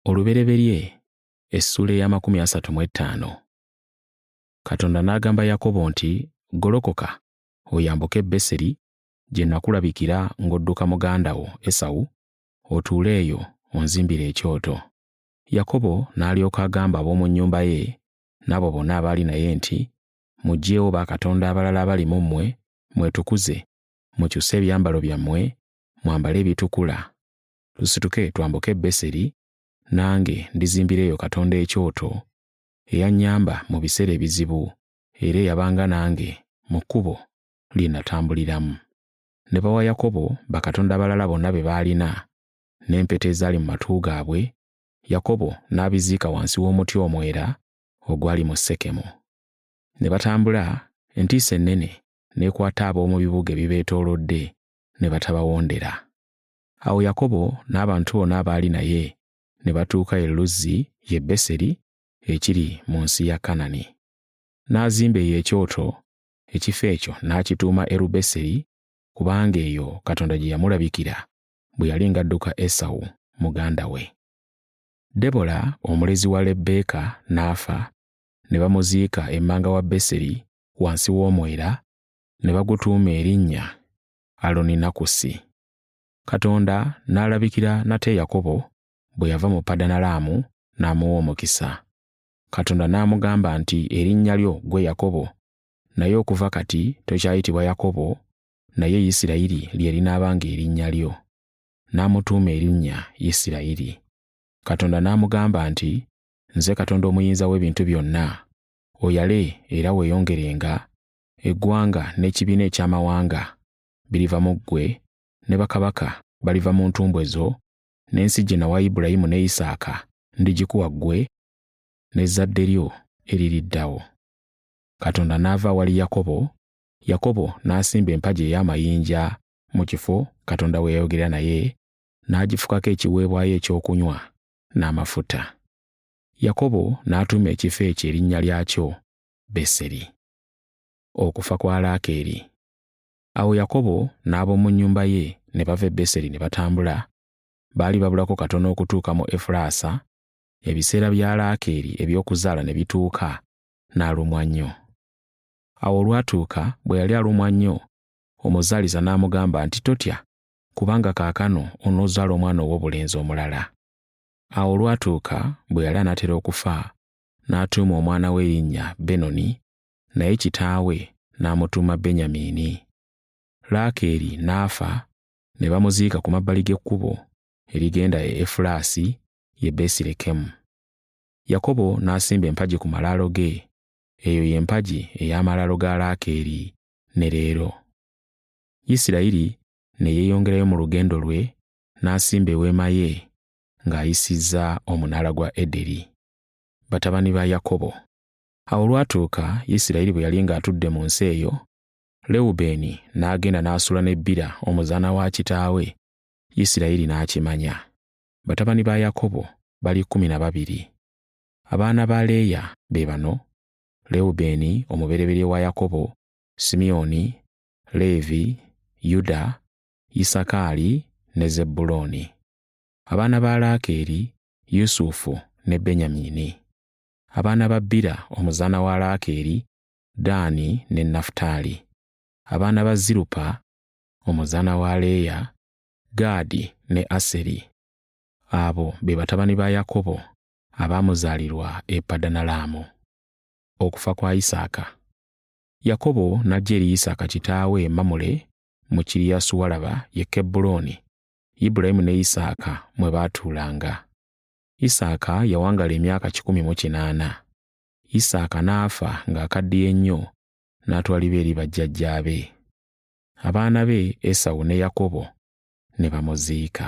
olubereberye essuula ey'amakumi asatu mu ettaano katonda n'agamba yakobo nti golokoka oyambuke e beseri gye nakulabikira ng'odduka muganda wo esawu otuule eyo onzimbire ekyoto yakobo n'alyoka agamba ab'omu nnyumba ye n'abo bonna abaali naye nti muggyeewo bakatonda abalala abali mu mmwe mwetukuze mukyuse ebyambalo byammwe mwambale ebitukula, tusituke twambuke e Beseri, nange ndizimbira eyo Katonda ekyoto, eyannyamba mu biseera ebizibu, era eyabanga nange mu kkubo lye natambuliramu. Ne bawa Yakobo bakatonda abalala bonna be baalina, n'empeta ezaali mu matu gaabwe, Yakobo n'abiziika wansi w'omuti omwera ogwali mu Sekemu. Ne batambula, entiisa ennene n'ekwata ab'omu bibuga ebibeetoolodde, ne batabawondera. Awo Yakobo n'abantu bona abaali naye ne batuuka e Luzzi ye Beseri ekiri mu nsi ya Kanani. N'azimba eyo ekyoto, ekifo ekyo n'akituuma Erubeseri, kubanga eyo Katonda gye yamulabikira bwe yali ng'adduka Esawu muganda we. Debola omulezi wa Lebbeeka n'afa, ne bamuziika emmanga wa Beseri wansi w'omwera ne bagutuuma erinnya Aloninakusi. Katonda n'alabikira nate Yakobo bwe yava mu Padanalaamu n'amuwa omukisa. Katonda n'amugamba nti erinnya lyo gwe Yakobo, naye okuva kati tokyayitibwa Yakobo, naye Isirayiri lye linaabanga erinnya lyo. N'amutuuma erinnya Isirayiri. Katonda n'amugamba nti, Nze Katonda Omuyinza w'Ebintu Byonna, oyale era weeyongerenga eggwanga n'ekibiina eky'amawanga biriva mu ggwe, ne bakabaka baliva mu ntumbwe zo, n'ensi gye nawa Ibulayimu ne Isaaka ndigikuwa ggwe n'ezzadde lyo eririddawo. Katonda n'ava awali Yakobo, Yakobo n'asimba empagi ey'amayinja mu kifo Katonda we yayogera naye, n'agifukako ekiweebwayo ekyokunywa n'amafuta. Yakobo n'atuuma ekifo ekyo erinnya lyakyo Beseri. Okufa kwa Laakeeri. Awo Yakobo n'ab'omu nnyumba ye ne bava e Beseri ne batambula. Baali babulako katono okutuuka mu Efulaasa, ebiseera bya Laakeeri eby'okuzaala ne bituuka, n'alumwa nnyo. Awo olwatuuka bwe yali alumwa nnyo, omuzaalisa n'amugamba nti, Totya, kubanga kaakano onoozaala omwana ow'obulenzi omulala. Awo olwatuuka bwe yali anaatera okufa, n'atuuma omwana we erinnya Benoni, naye kitaawe n'amutuuma Benyamiini. Laakeeri n'afa, ne bamuziika ku mabbali g'ekkubo erigenda e Efulaasi, ye Besirekemu. Yakobo n'asimba empagi ku malaalo ge, eyo ye mpagi ey'amalaalo ga Laakeeri ne leero. Isirayiri ne yeeyongerayo mu lugendo lwe n'asimba eweema ye ng'ayisizza omunaala gwa Ederi. batabani ba Yakobo. Awo olwatuuka Isirayiri bwe yali ng'atudde mu nsi eyo, Lewubeeni n'agenda n'asula ne Bira omuzaana wa kitaawe, Isirayiri n'akimanya. Batabani ba Yakobo bali kkumi na babiri. Abaana ba Leeya be bano, Lewubeeni omubereberye wa Yakobo, Simyoni, Leevi, Yuda, Isakaali ne Zebbulooni. Abaana ba Laakeeri Yusufu ne Benyamiini. Abaana ba Bira omuzaana wa Laakeeri, Daani ne Nafutaali. Abaana ba Zirupa omuzaana wa Leeya, Gaadi ne Aseri. Abo be batabani ba Yakobo abaamuzaalirwa e Padanalaamu. Okufa kwa Isaaka. Yakobo n'ajja eri Isaaka kitaawe e Mamule mu Kiriyasuwalaba ye Kebbulooni Ibulayimu ne Isaaka mwe baatuulanga. Isaaka yawangala emyaka kikumi mu kinaana. Isaaka n'afa ng'akaddiye nnyo n'atwalibwa eri bajjajjaabe. Abaana be Esawu ne Yakobo ne bamuziika.